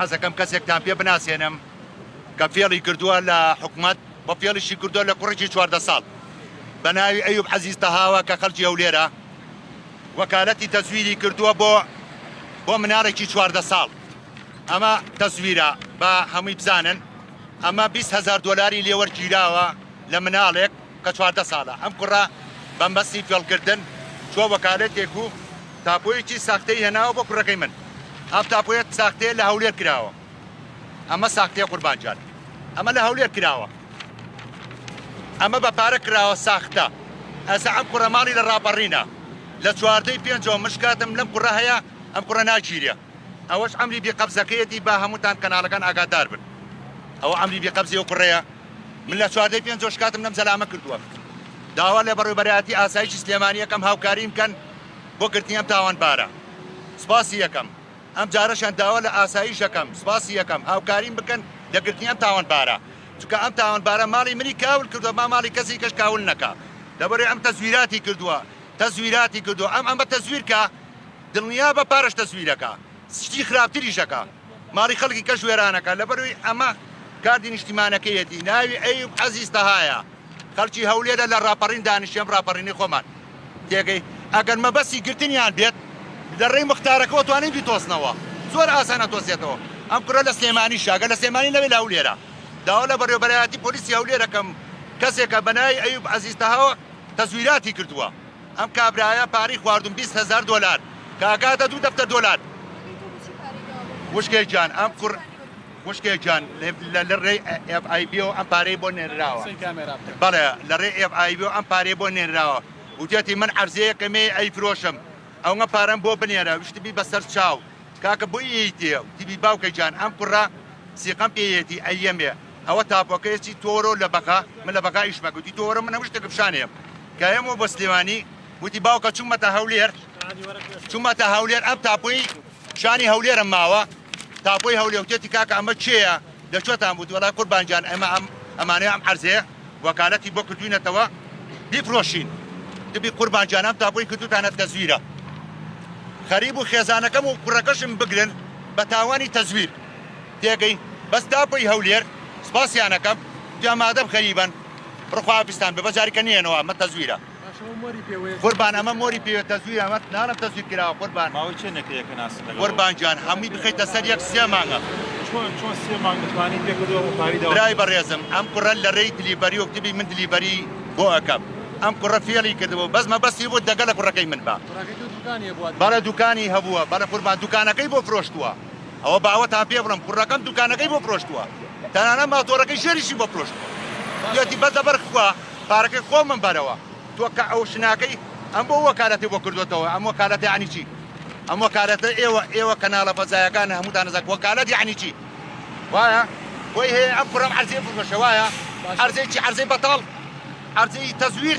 حەزەکەم کەسێکتان پێ بناسێنم کە فێڵی کردووە لە حکومەت بە فێڵیشی کردووە لە کوڕێکی چواردە ساڵ بە ناوی ئەیوب عەزیز تەهاوە کە خەڵکی هەولێرە وەکالەتی تەزویری کردووە بۆ بۆ مناڵێکی چواردە ساڵ ئەمە تەزویرە بە هەمووی بزانن ئەمە 20 هزار دلاری لێوەرگیراوە لە مناڵێک کە چواردە ساڵە ئەم کوڕە بە مەستی فێڵکردن چووە وەکالەتێک و تاپۆیەکی ساختەی هێناوە بۆ کوڕەکەی من، ئەم تاپۆیە ساختەیە لە هەولێر کراوە، ئەمە ساختەیە قوربان گیان، ئەمە لە هەولێر کراوە، ئەمە بە پارە کراوە ساختە، ئێستا ئەم کوڕە ماڵی لە ڕاپەڕینە، لە چواردەی پێنجەوە من شکاتم لەم کوڕە هەیە، ئەم کوڕە ناگیرێ. ئەوەش عەمری بی قەبزەکەیەتی با هەمووتان کەناڵەکان ئاگادار بن ئەوە عەمری بی قەبزی ئەو کوڕەیە من لە چواردە پێنجەوە شکاتم لەم زەلامە کردووە داوا لە بەڕێوبەرایەتی ئاسایشی سلێمانی یەکەم هاوکاریم کەن بۆ گرتنی ئەم تاوانبارە سپاسی یەکەم ئەم جارەشان داوا لە ئاسایش یەکەم سپاسی یەکەم هاوکاریم بکەن لە گرتنی ئەم تاوانبارە چونکە ئەم تاوانبارە ماڵی منی کاول کردووە ما ماڵی کەسی کەش کاول نەکا لەبەرێ ئەم تەزویراتی کردووە تەزویراتی کردووە ئەم ئەمە تەزویرکە دڵنیابە پارەش تەزویرەکە سشتی خراپتریش ئەکا ماڵی خەڵکی کەش وێرانەکا لەبەروی ئەمە کاردی نیشتیمانەکەیەتی ناوی ئەیوب عەزیز تەهایە خەڵکی هەولێرە لە ڕاپەڕین دانیشێم ڕاپەڕینی خۆمان تێگەی ئەگەر مەبەسی گرتنیان بێت لە ڕێی مختارەکەەوە توانین بیتۆزنەوە زۆر ئاسانە تۆزێتەوە ئەم کوڕە لە سلێمانی شاگە لە سلێمانی نەوێت لە هەولێرە داوا لە بەڕێوەبەرایەتی پۆلیسی هەولێرەکەم کەسێکە بەناوی ئەیوب عەزیز تەهاوە تەزویراتی کردووە ئەم کابرایە پارەی خواردوم بیست هەزار دۆلار کە ئەکاتە دوو دەفتەر دۆلار. خوشکێ گیان ئەم کوڕ خوشکێ گیان لە ڕێی ئێف ئای بیەوە ئەم پارەی بۆ نێنراوە بەڵێ لە ڕێ ئێف ئای بیەوە ئەم پارەی بۆ نێنراوە وتێتی من عەرزەیەکەمێ ئەی فرۆشم ئەوە پارەم بۆ بنێرە وشتبی بەسەر چاو کاکە بۆ یەیتێ تیبی باوکە گیان ئەم کوڕە سیقەم پێیەتی ئەیەمێ ئەوە تاپۆکەیە چی تۆ وەرەوە لە بەغا من لە بەغا ئیشمە گوتی تۆ وەرە من هەموو شتێکم شان هەیە کە هێمەوە بە سلێمانی وتی باوکە چوومەتە هەولێر چوومەتە هەولێر ئەم تاپۆی شانی هەولێرم ماوە تاپۆی هەولێوتێتی کاکە ئەمە چێە لە چۆتان بوو وەڵای قوربانجان ئەمە ئەم ئەمانەیە ئەم عەرزەیە وەکالەتی بۆ کردوینەتەوە بیفرۆشین دبی قوربان جانم تا بۆی کردوتانە تەزویرە خەریب و خێزانەکەم و کوڕەکەشم بگرن بە تاوانی تەزویر پێگەی بەس تاپۆی هەولێر سوپاسیانەکەم جا مادەم خەریبن بڕخوا ئافیستان ببە جاریکە نیەنەوە ئەمە تەزویرە قوربان ئەمە مۆری پێوێت تەزویر ئەمە نانە تەزویر کراوە قوربان ماوەی چێ نەکرێکە ناسی قوربان جان هەمووی بخیتە سەر یەک سێ مانگە برای بەڕێزم ئەم کوڕە لە ڕێی دلیبەری و کتبی من دلیبەری بۆ ئەەکەم ئەم کوڕە فێڵی کردەوە بەس مەبەستی بۆ دەگەل لە کوڕەکەی من بە بەڵە دوکانی هەبووە بەڵە قوربان دوکانەکەی بۆ فرۆشتووە ئەوە باوەتان پێ بڵێم کوڕەکەم دوکانەکەی بۆ فرۆشتووە تەنانە ماتۆڕەکەی ژێریشی بۆ فرۆشتووە یەتی بەس لەبەر خوا پارەکەی خۆمم بەرەوە تۆ کە ئەو شناکەی ئەم بۆ وەکالەتی بۆ کردوێتەوە ئەم وەکالەتی عنی چی ئەم وەکالەتە ئێوە ئێوە کەناڵە فەزایەکان هەمووتان نەزانک وەکالەت یعنی چی وایە بۆی هەیە ئەم کوڕەم عەرزێ بفرۆشە وایە عەرزێکی عەرزەی بەتاڵ عەرزەی تەزویر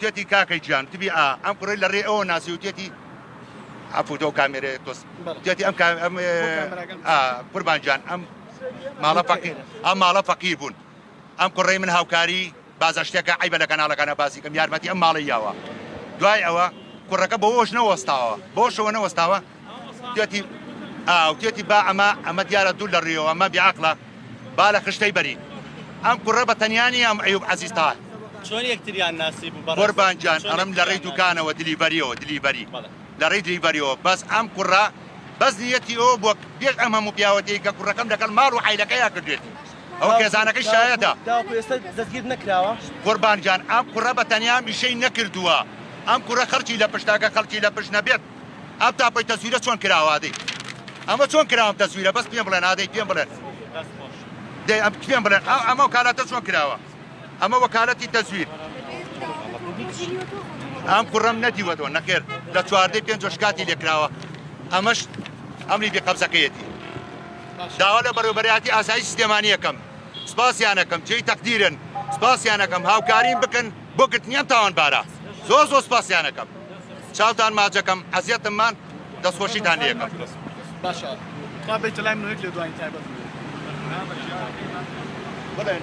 تێتی کاکە گیان تبی ئا ئەم کوڕەی لە ڕێ ئەوە ناسی و تێتی عفو تۆ کامێرە تۆس تێتی ئەم ئەم قوربان گیان ئەم ماڵە فەقیر ئەم ماڵە فەقیر بوون ئەم کوڕەی من هاوکاری بازە شتێکە عیبە لە کەناڵەکانە باسیکەم یارمەتی ئەم ماڵی یاوە دوای ئەوە کوڕەکە بەوەش نەوەستاوە بۆشەوە نەوەستاوە تێتی ئاو تێتی با ئەمە ئەمە دیارە دوور لە ڕیەوە ئەمە بیعقلە با لە خشتەی بەرین ئەم کوڕە بە تەنیانی ئەم ئەیوب عزیز تا چۆن یەکتریان ناسی بوو قوربانجان ئەڵم لە ڕێی دوکانەوە دلیڤەریەوە دلیڤەری لە ڕێی دلیڤەریەوە بەس ئەم کوڕە بەس نیەتی ئەو بۆ پێش ئەم هەموو پیاوەتی کە کوڕەکەم لەگەڵ ماڵ و عیلەکەیان کردێتی ئەو خێزانەکەی شایەتە دەستگیر نەکراوە قوربانجان ئەم کوڕە بە تەنیا میشەی نەکردووە ئەم کوڕە خەڵکی لە پشتاکە خەڵکی لە پشت نەبێت ئەم تاپەی تەزویرە چۆن کراوە ئادەی ئەمە چۆن کراوە تەزویرە بەس پێم بڵێن ئادەی پێم بڵێن دەی ئەم پێم بڵێن ئەو ئەمە وکالاتە چۆن کراوە ئەمە وەکالەتی تەزویر ئەم کوڕم نەدیوەتەوە نەخێر لە چواردەی پێنج شکاتی لێکراوە ئەمەش ئەمری بێ قەبزەکەیەتی داوا لە بەڕێوبەرایەتی ئاسایی سلێمانیەکەم سپاسیانەکەم جێی تەقدیرن سپاسیانەکەم هاوکاریم بکەن بۆ گرتنی ئەم تاوانبارە زۆر زۆر سپاسیان ئەکەم چاوتان ماچ ئەکەم ئەزیەتم مان دەستخۆشیتان لێ ئەکەم باشە کا بەیتە لای منۆیک لێدوانی تایبەت بڵێن.